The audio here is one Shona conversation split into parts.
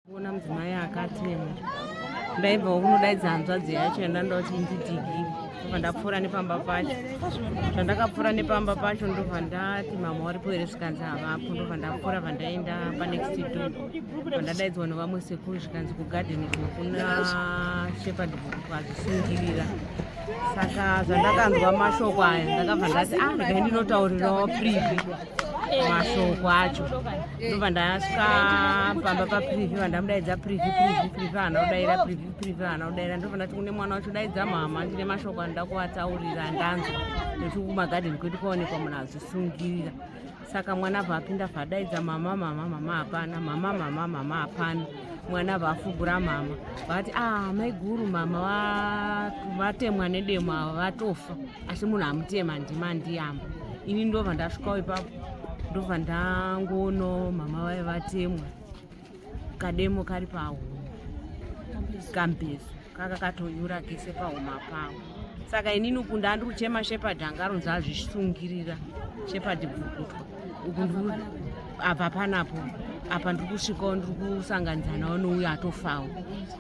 kuona mudzimai akatema ndaibva kunodaidza hanzvadzi yacho yandandoti ndidigi ndobva ndapfuura nepamba pacho zvandakapfuura nepamba pacho ndobva ndati mama wari poere zvikanzi havapo ndobva ndapfuura vandaenda panext do vandadaidzwa nevamwe sekuru zvikanzi kugadeni kuna shepard bhuku azvisungirira saka zvandakanzwa mashoko aya ndakabva ndati ah ndai ndinotaurirawo privi mashoko acho ndobva ndasvika pamba paprivi vandamudaidza privi privi privi hana kudaira privi privi hana kudaira ndobva ndati kune mwana wacho daidza mhama ndine mashoko andoda kuvataurira ndanzwa nekuti kumagadheni kwedu kwaonekwa munhu azvisungirira saka mwana abva apinda vadaidza mama mama mama hapana mama mama mama hapana mwana abva afugura mama vati a ah, maiguru mama vatemwa nedemo ava vatofa asi munhu amutema ndima ndiyamba ini ndobva ndasvikawo ipapo ndobva ndangono mama vaye vatemwa kademo kari pahuma kambezo kaka katonyura kese pahuma pavo saka inini uku ndandiri kuchema shepard anga aronzi azvisungirira shepard bvukutwa uku ndiri apa panapo apa ndiri kusvikawo ndiri kusanganidzanawo nouyo atofawo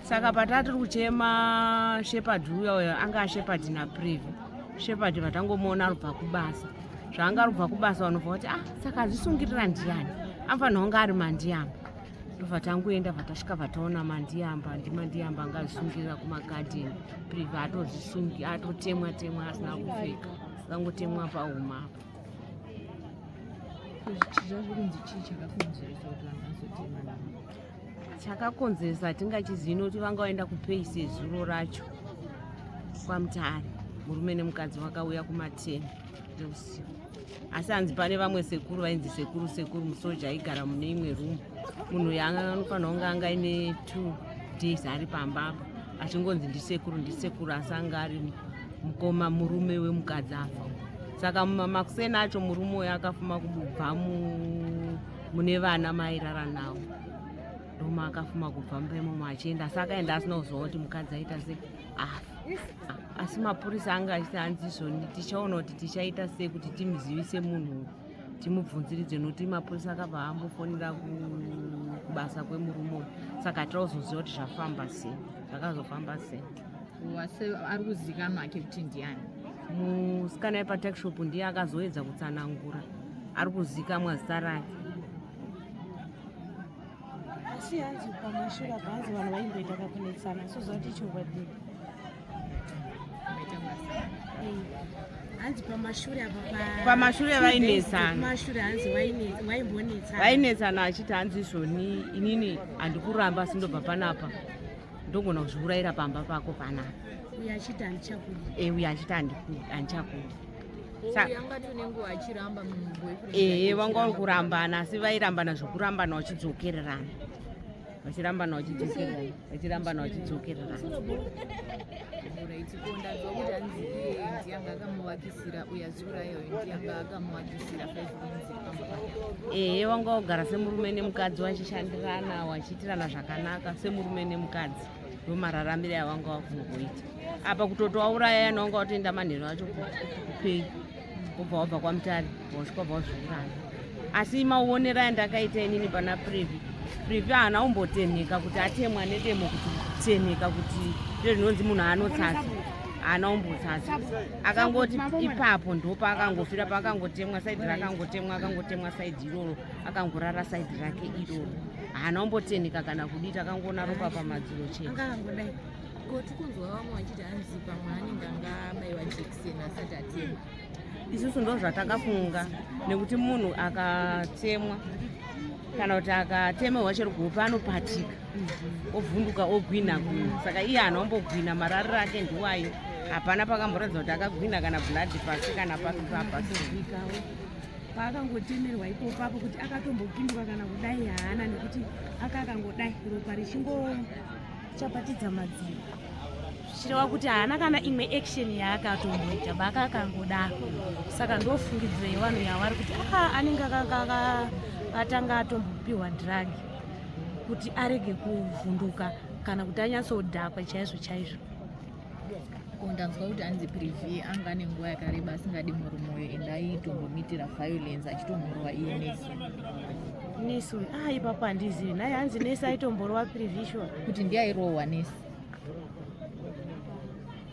saka patatiri kuchema shepard uya uyo anga ashepard naprevi Shepherd vatangomuona arubva kubasa zvaanga arubva kubasa vanobva kuti ah saka azvisungirira ndiyani anofanirwa kunge ari mandiyamba ndobva tangoenda vatasvika vataona mandiyamba ndimandiyamba anga azvisungirira kumagadheni priva atozvisungi atotemwa temwa asina kupfeka akangotemwa pahuma apa zvichizva zvikunzi chii chakakonzeresa kuti vanhu vazotemana chakakonzeresa hatingachizivi nokuti vanga vaenda kupei sezuro racho kwamutare murume nemukadzi vakauya kumateni eusiku asi hanzi pane vamwe sekuru vainzi sekuru sekuru musoja aigara mune imwe rumu munhu yaanofanira kunge anga aine two days ari pamba apa achingonzi ndisekuru ndisekuru asi anga ari mukoma murume wemukadzi afa saka makuseni acho murume uyo akafuma kubva mu mune vana mairara nawo ndoma akafuma kubva mumba imomo achienda asi akaenda asina kuziva kuti mukadzi aita se afa ah, asi mapurisa anga achiti hanzi izvoni tichaona kuti tichaita sei kuti timuzivise munhu timubvunziridze nokuti mapurisa akabva ambofonera kubasa kwemurume uyu saka tauzoziva kuti zvafamba sei zvakazofamba sei wase ari kuzikanwa ake kuti ndiani musikana yepatakshop ndiye akazoedza kutsanangura ari kuzikamwa zita rake asi hanzi pamashura panzi vanhu vaimboita kakunetsana sozvati chokwadi hanzi pamashure pamashure vainetsanaamashure hanzi vaimbonetsana vainetsana achiti hanzi izvoni inini handikuramba asi ndobva panapa ndogona kuzviurayira pamba pako panapa uyo achiti handichakudi e uyo achiti handichakudi ehe vanga vari kurambana asi vairambana zvekurambana vachidzokererana vachirambana vachidzokererana vachirambana vachidzokererana ehe vanga vagara semurume nemukadzi vachishandirana vachiitirana zvakanaka semurume nemukadzi ndomararamire awanga wakungoita apa kutoti wauraya yana wanga watoenda manheru acho kupei wobva wabva kwamutari wasvika wabva wazviuraya asi mauonera yandakaita inini pana previ previ haana umbotenheka kuti atemwa nedemo kuti tenheka kuti ndo zvinonzi munhu aanotsatsa haana umbotsatsa akangoti ipapo ndopa akangofira paakangotemwa saidi rake akangotemwa akangotemwa saidi iroro akangorara saidi rake iroro haana kumbotenheka kana kudii takangoona ropa pamadziro chete anga angodai ko tikunzwa vamwe vachiti hanzi pamwe anenge anga abaiwa jekiseni asati atemwa isusu ndo zvatakafunga nekuti munhu akatemwa kana kuti akatemerwa chero kuhope anopatika mhm. ovhunduka ogwinha gwinha saka iye haana kumbogwinha marariro ake ndiwayo hapana pakamboratidza kuti akagwinha kana blood pasi kana papi papa paakangotemerwa ipo papo kuti akatombopindwa kana kudai haana nekuti aka akangodai ropa richingochapatidza madziro zvichireva kuti haana kana imwe action yaakatomboita baka akangodaro saka ndofungidzira yevanhu yavari kuti aka ah, anenge akatanga atombopiwa drug kuti arege kuvhunduka kana kuti anyatsodhakwa chaizvo chaizvo ndanzwa kuti anzi privi anga ane nguva yakareba asingadi murume uyo and aitombomitira violence achitomurova iye nesi nesi uyu ah ipapo handizivi naye hanzi nesi aitomborova privi sure kuti ndiye airohwa nesi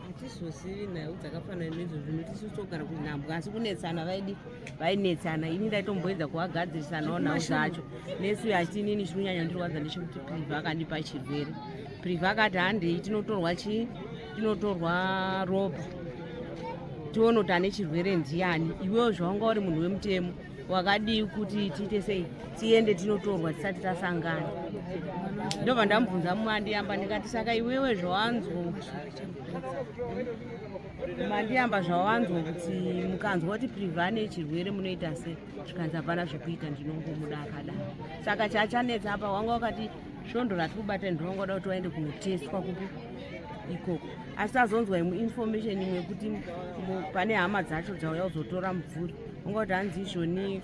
hatizozivi nhau dzakafanana nezvozvo nokuti isusu togara kuti nhambwa asi kunetsana vaidi vainetsana ini ndaitomboedza kuvagadzirisanawo nhau dzacho nesi uyo achiti inini chiri kunyanya ndirwadza ndechekuti privi akandipa chirwere Priva akati handei tinotorwa chii tinotorwa ropa tione kuti ane chirwere ndiani iwewo zvawanga uri munhu wemutemo wakadii kuti tiite sei tiende tinotorwa tisati tasangana ndobva ndamubvunza mumwe andiyamba ndikati saka iwewe zvawanzwa mandiyamba zvawanzwa kuti mukanzwa kuti priva ane chirwere munoita sei zvikanzi hapana zvekuita ndinongomuda akadaro saka chachanetsa apa wanga wakati svondo rati kubata ini ndinonga kuda kuti waende kunotestwa kupi ikoko asi azonzwa imwe information imwe yekuti pane hama dzacho dzauya kuzotora mubvuri unga kuti hanzi izvoni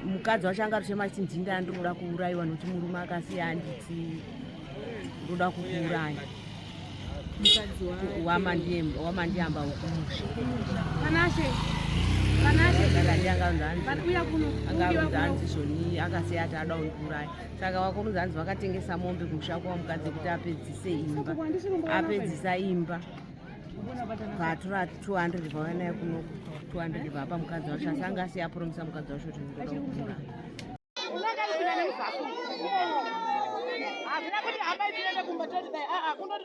mukadzi wacho anga ruchema chiti ndinda andinoda kuurayiwa nokuti murume akasiya anditi ndoda kukuuraya wamandiyamba ukumusha akasiya ati ada undiuraya saka wakomudza hanzi vakatengesa mombe kumusha kwavo mukadzi kuti apedzise imba apedzisa imba vatura 200 vavanaya kuno 200 vapa mukadzi wacho asi anga asi yapromisa mukadzi wacho kuti ndoda kukura hazvina kuti hambai tiende kumba toti dai aa kundoti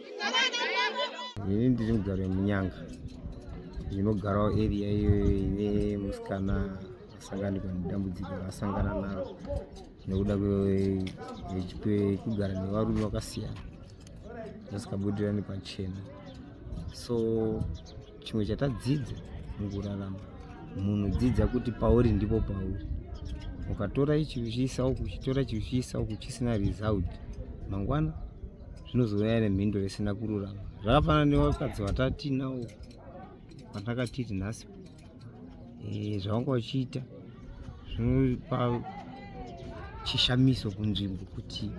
ini ndiri mugari wemunyanga ndinogarawo area iyo ine musikana asanganikwa nedambudziko raasangana naro nekuda kwekugara nevarume vakasiyana vasikabudirani pachena so chimwe chatadzidza mukurarama munhu dzidza kuti pauri ndipo pauri ukatora ichi uchiisa uku uchitora ichi uchiisa uku chisina result mangwana zvinozouya nemhinduro isina kururama zvakafanana nevakadzi vatatinao vatakatiti nhasi eh, zvavanga vachiita zvinopa chishamiso kunzvimbo kuti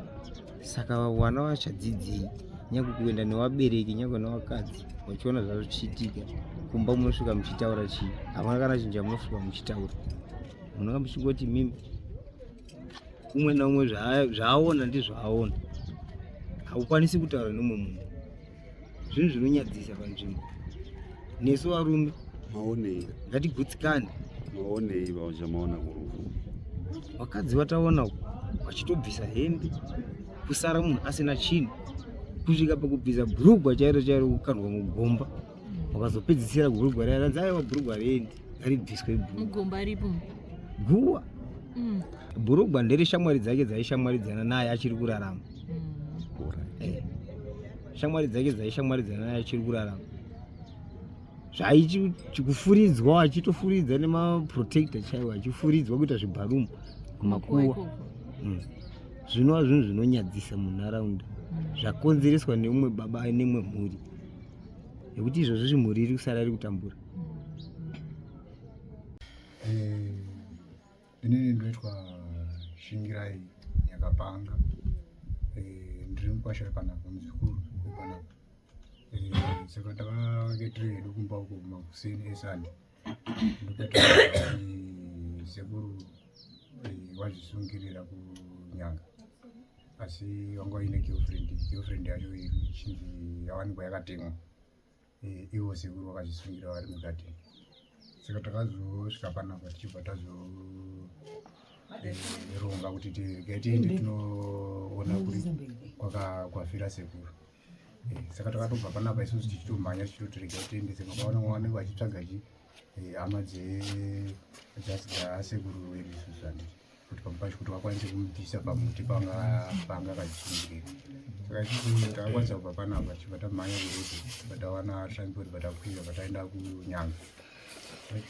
saka vana vachadzidzei nyangwe kuenda nevabereki nyangwe nevakadzi vachiona zvazvo zvichiitika kumba munosvika muchitaura chii havana kana chinhu chamunosvika muchitaura munonga muchingoti mimi umwe naumwe zvaaona ndizvaaona haukwanisi kutaura nemwe munhu zvinhu zvinonyadzisa panzvimbo nesu varume maonei ngatigutsikane maonei vazvamaona kurufu vakadzi vataona vachitobvisa hembe kusara munhu asina chinhu kusvika pakubvisa bhurugwa chairo chairo kukandwa mugomba wakazopedzisira bhurugwa raya ranzi aiwa bhurugwa rendi aribviswe mugomba ripo guwa mm. bhurugwa ndereshamwari dzake dzaishamwaridzana naye achiri kurarama shamwari dzake dzaishamwari dzana achiri kurarama zvaichikufuridzwa achitofuridza nemaprotector chaiwo achifuridzwa kuita zvibharumu kumakuwa hmm. zvinova zvinhu zvinonyadzisa munharaunda hmm. zvakonzereswa neumwe baba nemwe mhuri nekuti izvozvo zvimhuri iri kusara iri kutambura hmm. eh, Inini ndoitwa Shingirai Nyakapanga. Eh, ndiri mukwasha wepanapa muzukuru wepanapa. Eh, saka takange tiri hedu kumba uko makuseni esande. Ndokati sekuru eh, wazvisungirira kunyanga. Asi wanga uine girlfriend, girlfriend yacho ichinzi yawanikwa yakatemwa. eh, ivo sekuru vakazvisungira vari mugadheni saka takazosvika panapa tichibva tazoronga eh, kuti regai tiende tinoona kuri kwafira sekuru eh, saka takatobva panapa isusu tichitomhanya tichitoti regai tiende saka vaona vanenge vachitsvaga chi hama dzesekuru vedu isusu andii kuti pamupacho kuti vakwanise kumubvisa pamuti panga panga kachingirira saka ichizi takakwanisa kubva panapa chibva tamhanya kuruzi chibva tawana transport bva takwira bva taenda kunyanga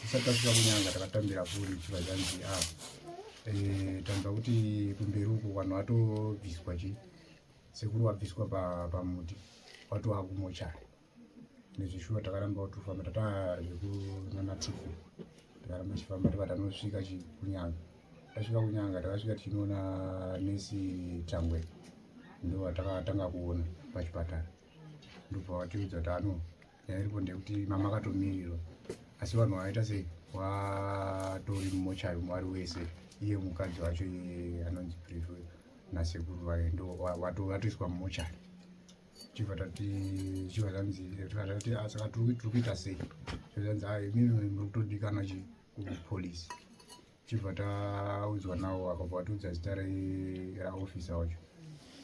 tisati tasvika kunyanga takatambira foni chibva zvanzi a ah, eh, tanzwa kuti kumberi uko vanhu vatobviswa chi sekuru wabviswa pamuti watowakumochari nezvishuwa takarambawo tofamba tataa zvekunana tuku takaramba tichifamba tiba tanosvika kunyanga tasvika kunyanga takasvika tichinoona nesi changwe ndo vatakatanga kuona pachipatara ndobva vatiudza kuti ano nyaya iripo ndeyekuti mama akatomirirwa asi vanhu vaita sei watori mumochari mwari wese iye mukadzi wacho iye anonzi prefe nasekuru vaye ndo vatoiswa mumochari chibva tati chibva zvanzi tati ah, saka tiri kuita sei zvanzi ha ah, imimi muri kutodikana chi kupolice chibva taudzwa nawo akabva atiudza zita raofisa wacho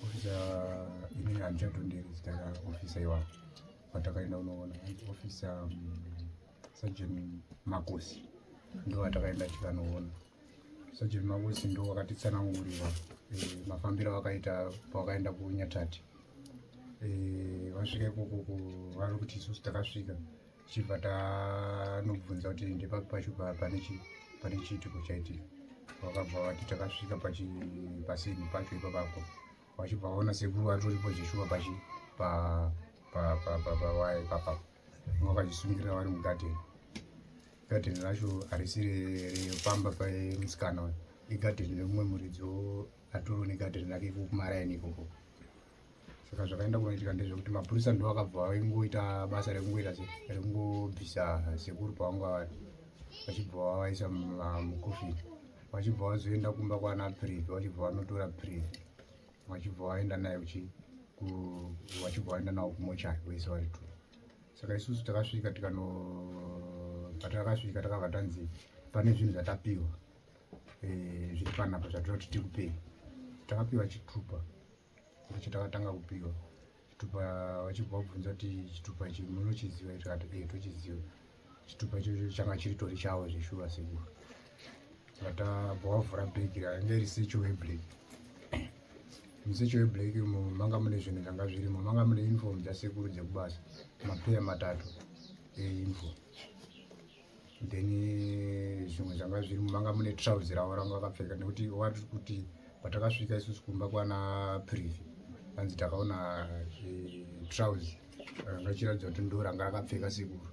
ofisa ini handichatonderi zita raofisa iwapo vatakaenda unoona ofisa mm, sajeni makosi ndo vatakaenda tikanoona Sajeni Mawesi ndo wakatitsanangurira eh, mafambiro avakaita pavakaenda kunyatati eh, vasvika ikoko vari kuti isusu takasvika tichibva tanobvunza kuti ndepapi pacho pane chiitiko chaitika vakabva vati takasvika pasini pacho ipapapo vachibva vaona sekuru vatoripo zveshuwa pachi pawaya ipapapo vanga vachisungirira vari mugadheni gadheni racho harisi repamba pamusikana uyu igadheni remumwe muridzi atoro negadheni rake iko kumaraini ikoko saka zvakaenda kunoitika ndezvekuti mapurisa ndo akabva vaingoita basa rekungoita se rekungobvisa sekuru pavanga vari vachibva vavaisa mukofini vachibva vazoenda kumba kwana privi vachibva vanotora privi vachibva vaenda naye vachibva vaenda navo kumochari vese vari two saka isusu takasvika tikano patakasvika takabva tanzi pane zvinhu zvatapiwa eh, zviri panapa zvatinoti tikupei takapiwa chitupa ndicho takatanga kupiwa chitupa vachibva vabvunza kuti chitupa chi munochiziva tikati e tochiziva chitupa chocho changa chiritori chavo zveshuva sekuru saka tabva wavhura bhegi rainge iri secho weblack musecho weblack umo manga mune zvinhu zvanga zvirimo manga mune uniform dzasekuru dzekubasa mapeya matatu euniform then zvimwe zvanga zviri manga mune trouser ravo ranga vakapfeka nekuti wati kuti patakasvika isusu kumba kwana privi hanzi takaona trouser ranga chiratidza kuti ndo ranga rakapfeka sekuru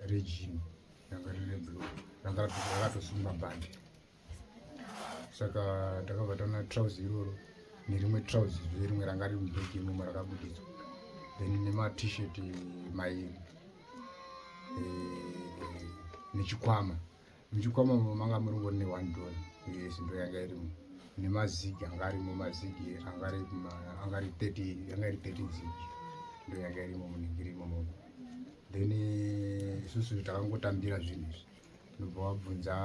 rejini ranga rine blue ranga rakatosungwa bhandi saka takabva taona trousi iroro nerimwe trousi zve rimwe ranga riri mubhegi imomo rakabudidzwa then nematisheti mairi eh, nechikwama muchikwama mo manga muringori ne one dollar yes ndo yanga irimo nemazigi anga arimo mazigi anga ari thirty yanga iri thirty zigi ndo yanga irimo munenge irimo momo then eh, isusu takangotambira zvinhu izvi ndobva wabvunza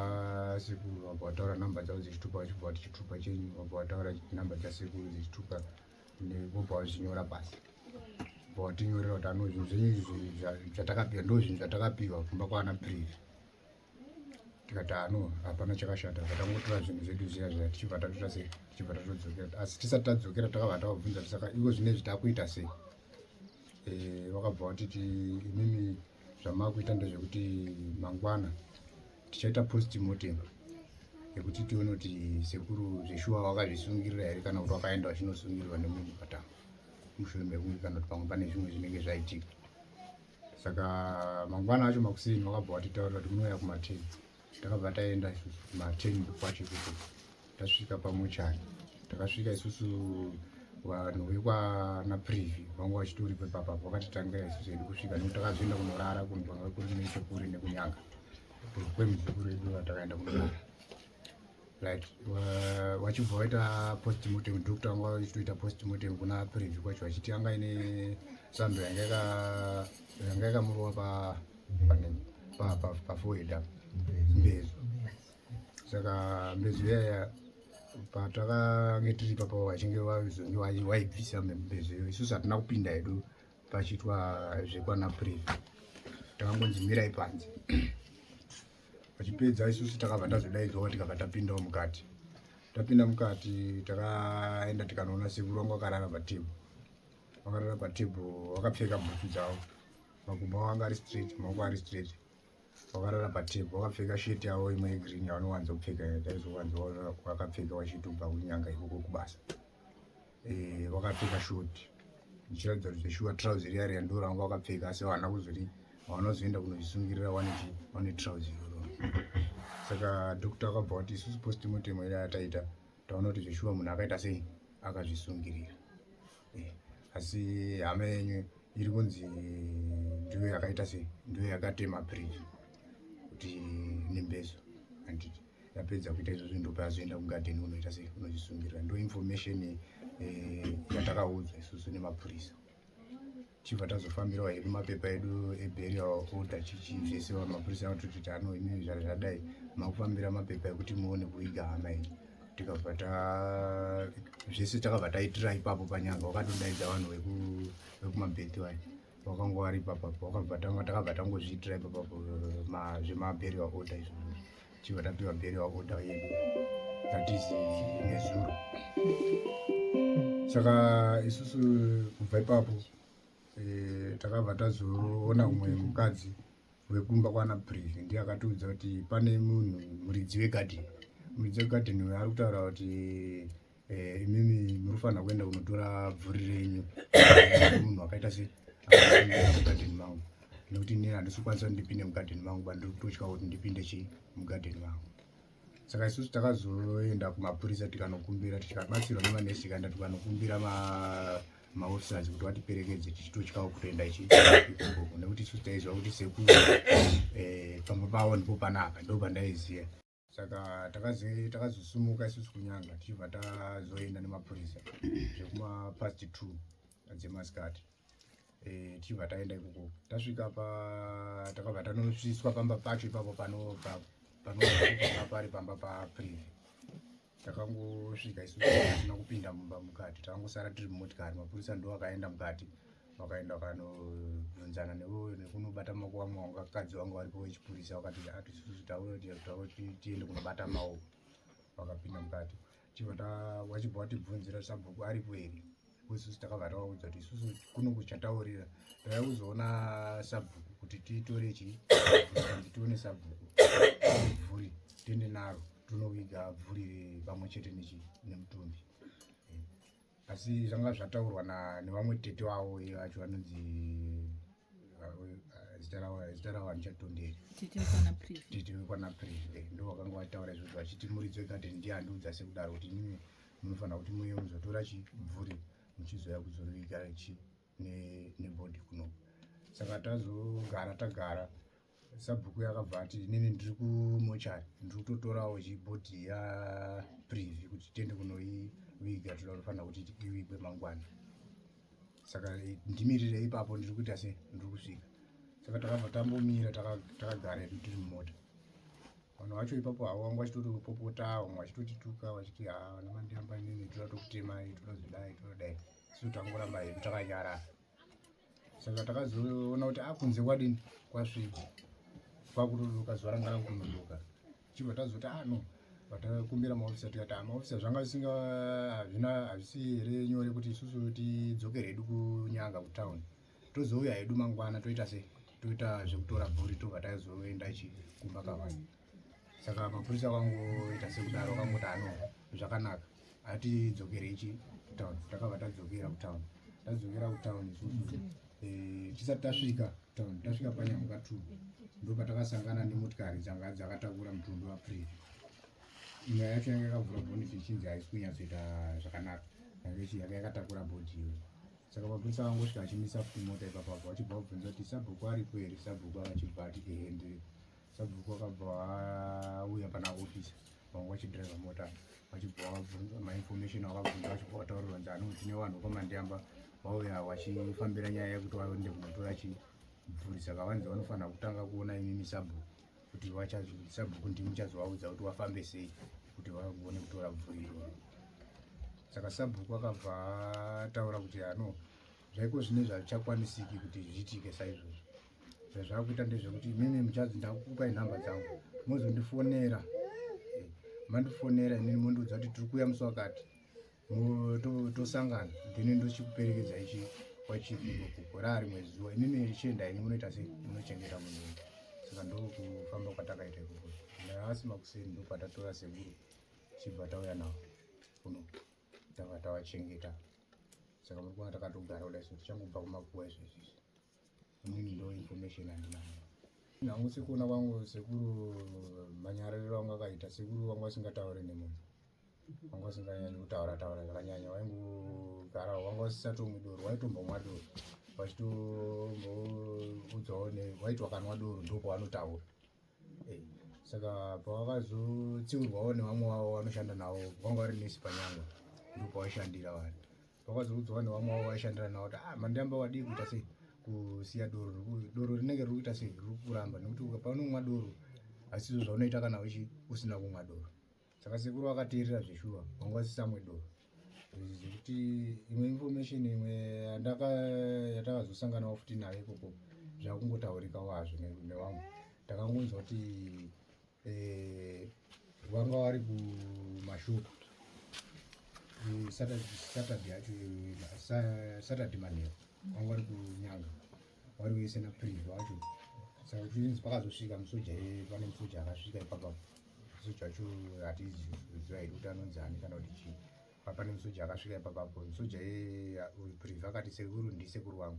sekuru wabva wataura number dzavo dzechitupa wachibva wati chitupa chenyu wabva wataura number dzasekuru dzechitupa wobva wazvinyora pasi bva watinyorera kuti ano zvinhu zvenyu zvatakapiwa ndo zvinhu zvatakapiwa kumba kwaana privi tikati ano hapana chakashata vatangotora zvinhu zvedu zviya zviya tichibva tatoita sei tichibva tatodzokera asi tisati tadzokera takabva tavabvunza tisaka ivo zvinezvi takuita sei eh, vakabva vatiti imimi zvamakuita ndezvekuti mangwana tichaita post mortem yekuti tione kuti sekuru zveshuwa wakazvisungirira here kana kuti wakaenda wachinosungirirwa nemunhu patanga mushure mekunge kana kuti pamwe pane zvimwe zvinenge zvaitika saka mangwana acho makuseni wakabva watitaurira kuti munouya kumatedzi takabva taenda isusu maten kwacho kuko tasvika pamochari takasvika isusu vanhu vekwana privi vanga vachitori pepapa vakatitangira isusu endi kusvika nekuti takazoenda kunorara kunhu kwanga kuri nechekure nekunyanga kwemuzukuru edu vatakaenda kunorara right vachibva uh, vaita post mortem doctor anga vachitoita post mortem kuna preview kwacho vachiti anga ine sando yanga yanga yakamurova pa pa pa pa forehead apa mbezo saka mbezo yaya patakange tiri papo vachinge vazonge vaibvisa mbezo iyo isusu hatina kupinda hedu pachiitwa zvekwana privi takangonzi mirai panze vachipedza isusu takabva tazodaidzwawo tikabva tapindawo mukati tapinda mukati takaenda tikanoona sekuru wangu akarara patebhu vakarara patebhu vakapfeka bhutu dzavo makumbo avo anga ari straight maoko ari straight vakarara patebhu vakapfeka shet yavo imwe yegreen yavanowanza kupfeka taizowanza vakapfeka vachitobva kunyanga ikoko kubasa eh, vakapfeka short ndichiratidza kuti zveshuwa trouser riya riya ndo ranga vakapfeka asi havana kuzoti havana kuzoenda kunozvisungirira wane chi wane trouser iroro saka doctor akabva kuti isusu postimotemo iri ataita taona kuti zveshuwa munhu akaita sei akazvisungirira eh, asi hama yenyu iri kunzi ndiyo yakaita sei ndiyo yakatema bridge kuti nembezo handiti yapedza kuita izvozvo ndopa azoenda kugadheni unoita sei unozvisungirira ndo information eh, yatakaudzwa isusu nemapurisa chibva tazofambirawo hedu mapepa edu eburial order chichi zvese mapurisa anototiti ano imii zvara zvadai makufambira mapepa ekuti muone kuiga hama ini tikabva ta zvese takabva taitira ipapo panyanga wakatodaidza vanhu vekumabhethi vayo wakanga wari ipapa wakabva tanga takabva tangozviitira ipapa zvemabheriwa oda izvo chibva tapiwa bheriwa oda yedu that is nezuro saka isusu kubva ipapo eh, takabva tazoona umwe mukadzi wekumba kwana privi ndiye akatiudza kuti pane munhu muridzi wegadheni muridzi wegadheni uyo ari kutaura kuti eh, imimi muri kufanira kuenda kunotora bvuri renyu munhu wakaita se mugadheni mangu nekuti ini handisi kukwanisa kuti ndipinde mugadheni mangu ba ndiri kutotya kuti ndipinde chii mugadheni mangu saka isusu takazoenda kumapurisa tikanokumbira tikabatsirwa nemanesi tikaenda tikanokumbira maofficers kuti vatiperekedze tichitotyawo kutoenda ichi ikoko nekuti isusu taiziva kuti sekuru eh, pamba pavo ndipo panapa ndo pandaiziva saka takazosimuka isusu kunyanga tichibva tazoenda nemapurisa zvekuma past two dzemasikati eh, tichibva taenda ikoko tasvika pa takabva tanosviswa pamba pacho ipapo pano pari pamba paprivi takangosvika isu tisina kupinda mumba mukati takangosara tiri mumotikari mapurisa ndo akaenda mukati vakaenda vakanobvunzana nevo nekunobata maoko vamwe vakadzi vangu varipo vechipurisa vakati atisusu taure tiende kunobata maoko vakapinda mukati chibva vachibva vatibvunzira sabhuku aripo here isusu takabva tavaudza kuti isusu kuno kuchataurira tava kuzoona sabhuku kuti tiitore chii anzi tione sabhuku bvuri tiende naro tinoviga bvuri pamwe chete nechi nemutumbi asi zvanga zvataurwa nevamwe tete vavo vacho vanonzi zita ravo zita ravo handichatonderi tete wekwana preve ndo vakanga vataura izvozvo vachiti muridzo ikati ndiye andiudza sekudaro kuti imimi munofanira kuti muye muzotora chibvuri muchizoya kuzoviga chi nebody kuno saka tazogara tagara sabhuku yakabva ati inini ndiri kumochari ndiri kutotorawo chibhodhi yaprivi kuti tiende kunoiviga tinoda kufanira kuti ivigwe mangwana saka eh, ndimirire ipapo ndiri kuita se ndiri kusvika saka takabva tambomira takagara edu tiri mumota vanhu vacho ipapo havo vanga vachitotopopota vamwe vachitotituka vachiti ha vana mandiyamba inini toda tokutemai toda zvidai toda dai so tangoramba hedu takanyarara saka takazoona kuti akunze ah, kwadini kwasvika kwakutoduka zuva ranga rakunoduka chibva tazoti ano ah, vatakumbira maofisa tikati amaofisa zvanga zvisinga hazvina hazvisi here nyore kuti isusu tidzokere hedu kunyanga kutown tozouya hedu mangwana toita sei toita zvekutora bhuri tobva taizoenda chi kumba kavanhu saka mapurisa akangoita sekudaro akangoti ano zvakanaka atidzokere ichi kutown takabva tadzokera kutown tadzokera kutown isusu eh, tisati tasvika town tasvika panyamuka two ndopatakasangana nemotikari dzanga dzakatakura mutumbi wapree nyaya yacho yanga yakavhura bhoni zvichinzi haisi kunyatsoita zvakanaka yange yanga yakatakura bhodhi iyo saka mapurisa vangosvika achimisa futi mota ipapapo vachibva vabvunza kuti sabhuku aripo here sabhuku akachibva ati ehendiri Sabhuku akabva auya pana office vanga vachidriver mota vachibva vabvunza mainformation avabvunza vachibva vataurira kunzi ano tine vanhu kwamandiyamba vauya vachifambira nyaya yekuti vaende kunotora chibvurisa kavanzi vanofanira kutanga kuona imimi sabhuku kuti sabhuku ndimi muchazovaudza kuti vafambe sei kuti vagone kutora bvuri iroro saka sabhuku akabva ataura kuti ano zvaiko zvine zvavichakwanisiki kuti zviitike saizvozvo zvazvakuita ndezvekuti imimi muchadzi ndakukupai nhamba dzangu mozondifonera eh, mandifonera imini mondiudza kuti tiri kuuya musi wakati tosangana then ndochikuperekedza ichi kwachiigokugorari mwedzi zuva imimi richienda ini munoita sei munochengeta munhu saka ndokufamba kwatakaita ikoko naasi makuseni ndokwatatora sekuru chibva tauya navo kuno tava tavachengeta saka muri kuona takatogara kudai so tichangobva kumakuwa izvezvizvi Mimi ndo information andinayo. Nangu sikuona kwangu sekuru manyariro wangu akaita sekuru wangu asingataure nemunhu. Wangu asinganyanyi kutaura taura zvakanyanya waingogara wangu asisatomwi doro waitombomwa doro vachitoudzawo ne waiti wakanwa doro ndopo wanotaura. Eh, saka pawakazotsiurwawo nevamwe wavo wanoshanda navo vanga vari nesi panyanga ndipo washandira vanhu vakazoudzwa nevamwe vavo vaishandira navo kuti ah, mandiramba wadii kuita sei kusiya doro doro rinenge riri kuita sei riri kuramba nekuti paunomwa doro asizvo zvaunoita kana uchi usina kumwa doro saka sekuru vakateerera zveshuwa vanga vasisamwe doro zvekuti imwe information imwe yatakazosanganawo futi nayo ikoko zvakungotaurikawo hazvo nevamwe takangonzwa kuti eh, vanga vari kumashopu eh, saturday yacho eh, saturday manheru vanga vari kunyanga vari kuise naprivi wacho saka kuchinzi pakazosvika musoja pane musoja akasvika ipapa musoja wacho hatizi kuziva here kuti anonzi ani kana kuti chii papane musoja akasvika ipapapo musoja weprivi akati sekuru ndisekuru wangu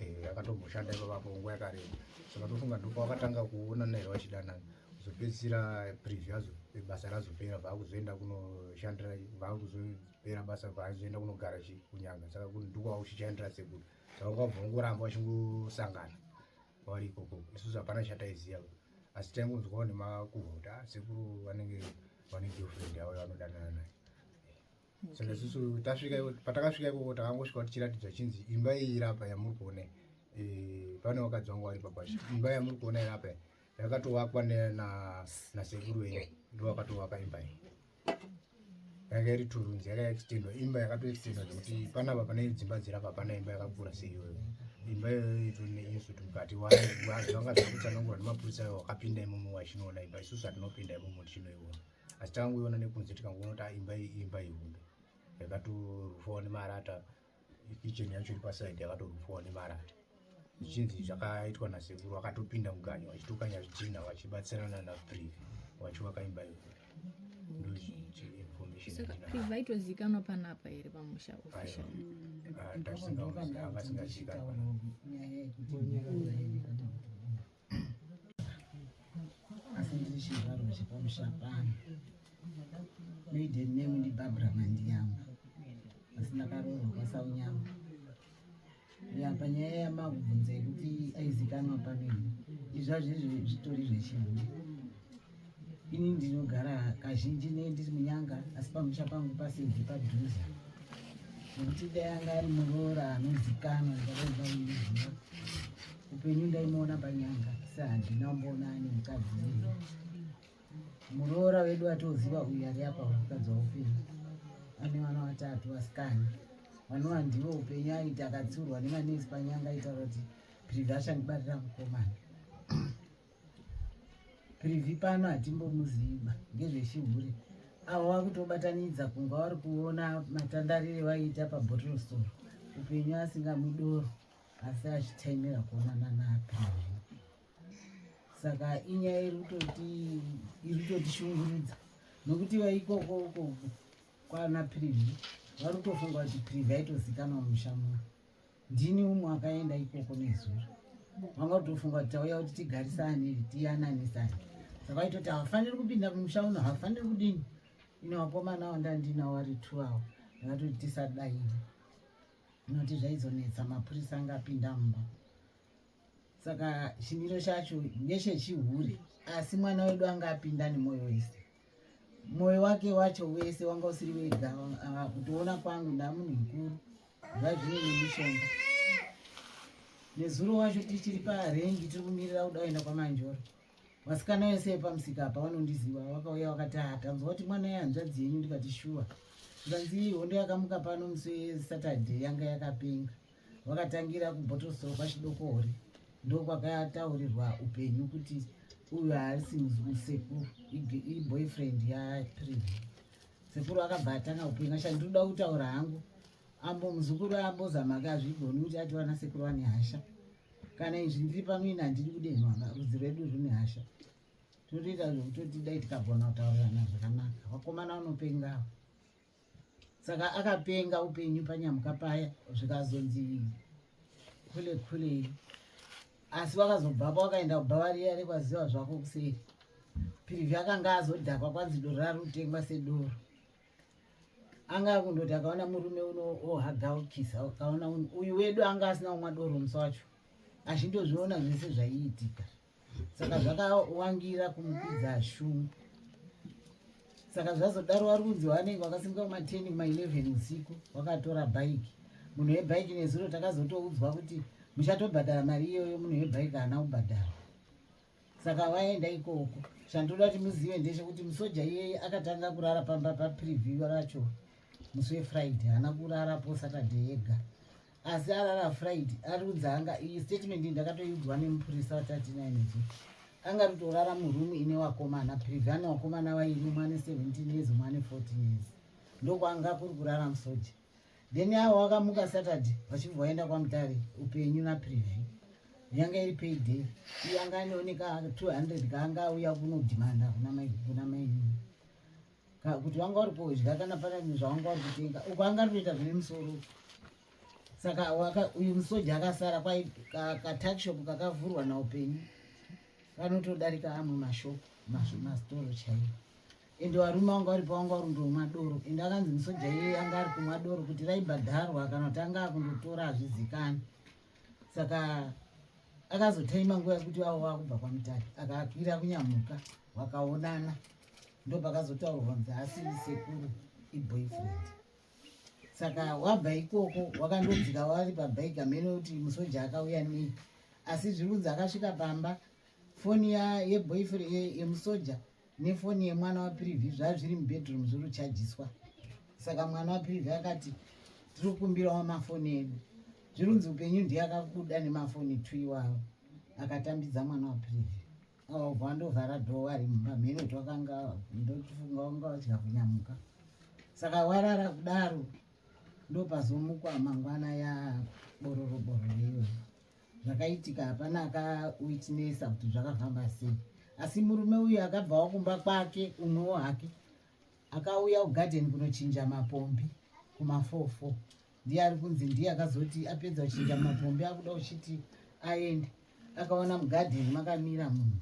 eh, akatomboshanda ipapapo nguva yakareba saka tofunga ndipo akatanga kuona naye vachidanana zopedzisira preview yazo basa razopera vaakuzoenda kunoshandira vaakuzopera basa vaazoenda kunogara kunyanga saka ndikwa uchichandira sekuru saka kwabva ungoramba vachingosangana kwavari ikoko isusu hapana chataiziva asi taingonzwawo nemakuhota sekuru vanenge vane girlfriend yavo vanodanana naye saka isusu tasvika patakasvika ikoko takangosvika kuti chiratidzwa chinzi imba iyi irapa yamuri kuona eh, pane vakadzi vangu vari pabasha imba yamuri kuona irapa yakatovakwa nasekuru wenyu ndo vakatovaka imba iyi yanga iri turunzi yaka extendwa imba yakatoextendwa zvekuti panapa pane dzimba dzirapa pana imba yakakura seiyoyo imba iyoyo ituri neinsuti mukati wazvanga zvakutsanangurwa nemapurisa ayo wakapinda imomo wachinoona imba isusu hatinopinda imomo tichinoiona asi takangoiona nekunze tikangoona kuti ah, imba iyi imba ihombe yakatorufwawo nemarata kicheni yacho iri pasaidi yakatorufwawo nemarata zvichinzi zvakaitwa nasekuru vakatopinda muganyo vachitokanya zvidhina vachibatsirana napriv vachivaka imba iyo ndoinformationvaitozikanwa panapa here pamusha officialavasingazikanwa asi ndiri chizvarwa chepamushapani maiden name ndibarbara mandiyangu asi ndakaroorwa kwasaunyangu ya panyaya yamabvunza yekuti aizikanwa pamene izvazvo izvi zvitori zvechinhu Ini ndinogara kazhinji ne ndiri munyanga asi pamusha pangu pasinzi padhuze nekuti dai anga ari muroora anozikanwa ndakaivamuziva upenyu ndaimuona panyanga asi handina kumboona ane mukadzi uyu muroora wedu atoziva uyu ari apa mukadzi waupenyu ane vana vatatu vasikana vanova ndivo upenyu aiti akatsiurwa nemanesi panyanga aitaura kuti privasha ndibarira mukomana Privy pano hatimbomuziva ngezvechihure avo vakutobatanidza kunga vari kuona matandarire vaiita pabottle store upenyu asingamudoro asi achitaimira kuonana naPrivy saka inyaya iri kutoti iri kutotishungurudza nokuti vaikoko uko kwana Privy vari kutofunga kuti Privy aitozikanwa mumusha muno Ndini umwe akaenda ikoko nezuva vanga kutofunga kuti tauya kuti tigarisane tiyananisane saka itoti havafaniri kupinda kumusha uno havafaniri kudini ine vakomana avo ndandinawo vari two avo ndakatoti tisadaini inoti zvaizonetsa mapurisa angapinda mumba saka chimiro chacho ndechechihure asi mwana wedu anga apinda nemoyo wese moyo wake wacho wese wanga usiri wega ah, kutoona kwangu ndamunhu mukuru zvazvine nemishonga nezuro wacho tichiri parengi tiri kumirira kuda kuenda kwamanjoro vasikana yese yepamusika apa vanondiziva vakauya vakati ha ah, tanzwa kuti mwana yehanzvadzi yenyu ndikati shuwa zvikanzi hondo yakamuka pano musi wesaturday yanga yakapenga wakatangira kubhotosoro kwachidokore ndokwakataurirwa upenyu kuti uyu haasi musekuru iboyfriend yaprivi sekuru akabva atanga upenyu asha ndinoda kutaura hangu ambo muzukuru ambozama ke azvigoni kuti ati vana sekuru vane hasha kana izvi ndiri pano ini handidi kudenhwa rudzi rwedu rune hasha totoita zvekutoti dai tikagona kutaurirana zvakanaka vakomana vanopengawa saka akapenga upenyu panyamka paya zvikazonzi khule khule asi wakazobvapo wakaenda kubva variya rekwaziva zvako kuseri pirivhi akanga azodhakwa kwanzi doro rari kutengwa sedoro anga akundoti akaona murume uno ohaga ukisa akaona uyu wedu anga asina kumwa doro musi wacho azvindozviona zvese zvaiitika saka zvakawangira kumupidza shungu saka zvazodaro wari kunzi wanenge wakasimuka kuma 10 kuma 11 usiku wakatora bhaiki munhu webhaiki nezuro takazotoudzwa kuti muchatobhadhara mari iyoyo munhu webhaiki haana kubhadhara saka waenda ikoko chandoda kuti muzive ndechekuti musoja iyeye akatanga kurara pamba papreview racho musi wefriday haana kurarapo saturday yega asi arara friday ari kunzi anga iyi statement ndakatoiudzwa nemupurisa watatinainezvo anga ritorara murumu ine wakomana privi ane wakomana waine mwane 17 years mwane 14 years ndokwanga kuri kurara musoja then avo wakamuka saturday vachibva vaenda kwamutare upenyu naprivi yanga iri payday iyanga anioneka 200 kaanga auya kunodimanda kuna maii kuti wanga uri kudya kana pane zvawanga uri kutenga uko anga ari kuita zvine musoro saka uyu musoja akasara kwai katakshop kakavhurwa naupenyu kanotodarika amwe mashop mastoro chaiyo ende varume vanga varipo vanga vari ndomwa doro ende akanzi musoja iye anga ari kumwa doro kuti raibhadharwa kana kuti anga akundotora hazvizikani saka akazotaima nguva yekuti vavo vakubva kwamutari akakwira kunyamuka vakaonana ndopakazotaurwa kunzi asi sekuru iboyfriend saka wabva ikoko wakandodzika wari pabike amene kuti musoja akauya nei asi zviri kunzi akasvika pamba foni yeboyfriend yemusoja ye nefoni yemwana waprivy zvaa zviri mubedroom zviri kuchajiswa saka mwana waprivy akati tiri kukumbirawo mafoni edu zviri kunzi upenyu ndiye akakuda nemafoni two iwawo akatambidza mwana waprivy Wava ndovhara door ari maminute wakanga ndochifunga wanga wachida kunyamuka. Saka warara kudaro ndopazomukwa mangwana ya bororo bororo iyoyo. Zvakaitika hapana aka witnessa kuti zvakafamba sei. Asi murume uyu akabvawo kumba kwake umwewo hake akauya kugarden kunochinja mapombi kumafofo ndiye ari kunzi ndiye akazoti apedza kuchinja mapombi akuda uchiti aende akaona mugadheni makamira munhu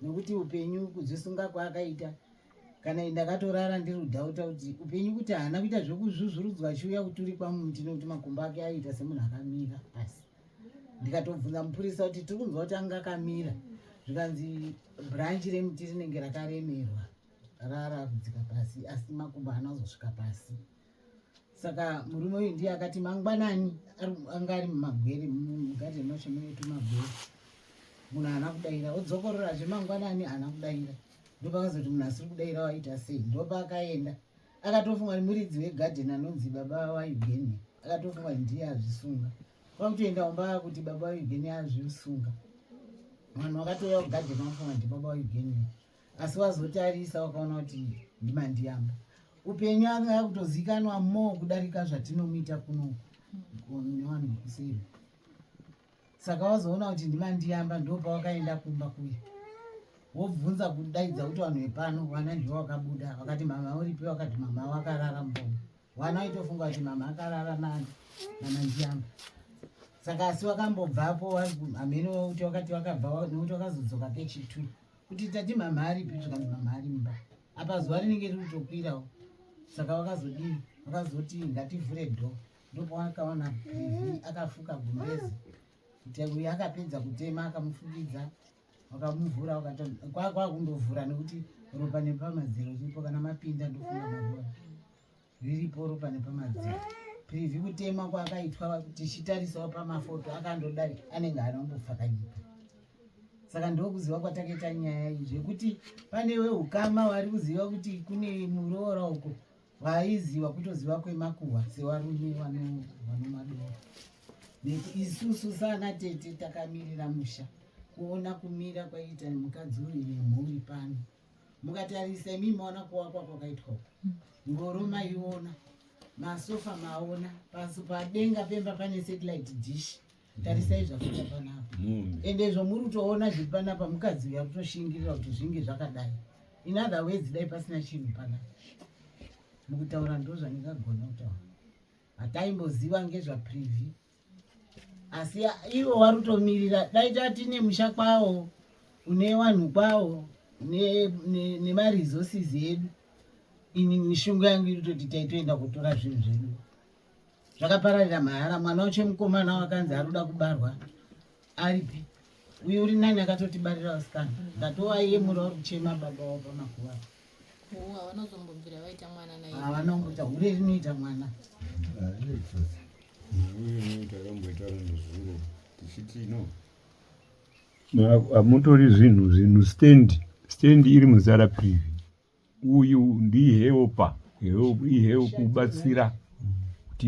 nokuti upenyu kuzvisunga kwaakaita kana ndakatorara ndiri kudhauta kuti upenyu kuti haana kuita zvekuzvuzvurudzwa achiuya kuturikwa munhu tinokuti makumbo ake aiita semunhu akamira pasi ndikatobvunza mupurisa kuti tiri kunzwa kuti anga akamira zvikanzi branchi remuti rinenge rakaremerwa rara kudzika pasi asi makumbo haana kuzosvika pasi saka murume uyu ndiye akati mangwanani anga ari mumagwere mugadheni macho mune tumagwere munhu haana kudaira odzokororazve mangwanani haana kudaira ndopakazoti munhu asiri kudaira waita sei ndopaakaenda akatofunga ni muridzi wegadheni anonzi baba waeugenia akatofunga ndiye azvisunga kwakutoenda umba kuti baba waeugenia azvisunga vanhu vakatouya kugadheni vafunga ndi baba waeugenia asi wazotarisa wakaona kuti ndimandiyamba upenyu anga akutozikanwa mo kudarika zvatinomuita kuno nevanhu vekuseri saka wazoona kuti ndimandiyamba ndopawakaenda kumba kuya wobvunza kudaidza kuti vanhu vepano vana ndivo vakabuda vakati mama uripi vakati mama wakarara mbomo vana vaitofunga kuti mama akarara nani namandiyamba saka asi wakambobvapo amene kuti wakati wakabva nokuti wakazodzoka kechitwi kuti tati mhamha aripi zvikanzi mhamha ari mumba apa zuva rinenge riri kutokwirawo saka vakazodii vakazoti ngativhure dho ndopawakaona privi akafuka gumbezi kuti uyo akapedza kutema akamufukidza wakamuvhura kwakundovhura nekuti ropa nepamazero chipo kana mapinda ndofunga maroa riripo ropa nepamadziro privi kutema kwakaitwa tichitarisawo pamafoto akandodari anenge anombofa kanyika saka ndokuziva kwatakaita nyaya iyi zvekuti pane weukama wari kuziva kuti kune muroora uko vaiziva kutoziva kwemakuhwa sevarume vanomadora isusu saana tete takamirira musha kuona kumira kwaiita mukadzi uyu nemhuri pano mukatarisa imi maona kuvakwa kwakaitwa uku hmm. ngoro maiona masofa maona pasi padenga pemba pane satellite dish tarisai zvakuita panapa ende izvo muri kutoona zviri panapa mukadzi uya kutoshingirira kuti zvinge zvakadai in other words dai pasina chinhu panapa mukutaura ndozvandingagona kutaura hataimboziva ngezvapreview asi ivo vari kutomirira dai tati nemusha kwawo une vanhu kwawo nemaresources edu ini mishungu yangu iri toti taitoenda kutora zvinhu zvedu zvakapararira mahara mwana wacho mukomana wakanzi ari kuda kubarwa Aripi uyo uri nani akatotibarira vasikana ndatova iye muri vari kuchema baba wavo pamakuva havanozombobvira vaita mwana naye havanongoita hure rinoita mwana takamboitaura nezuro tichiti no hamutori zvinhu zvinhu stand stand iri muzara privi uyu ndihelpa ihelp kubatsira kuti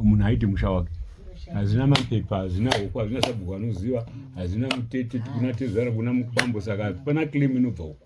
munhu aite musha wake hazvina mapepa hazvina hoko hazvina sabhuku anoziva hazvina mutete tikuna tezvara kuna mukubambo saka hapana claim inobva uko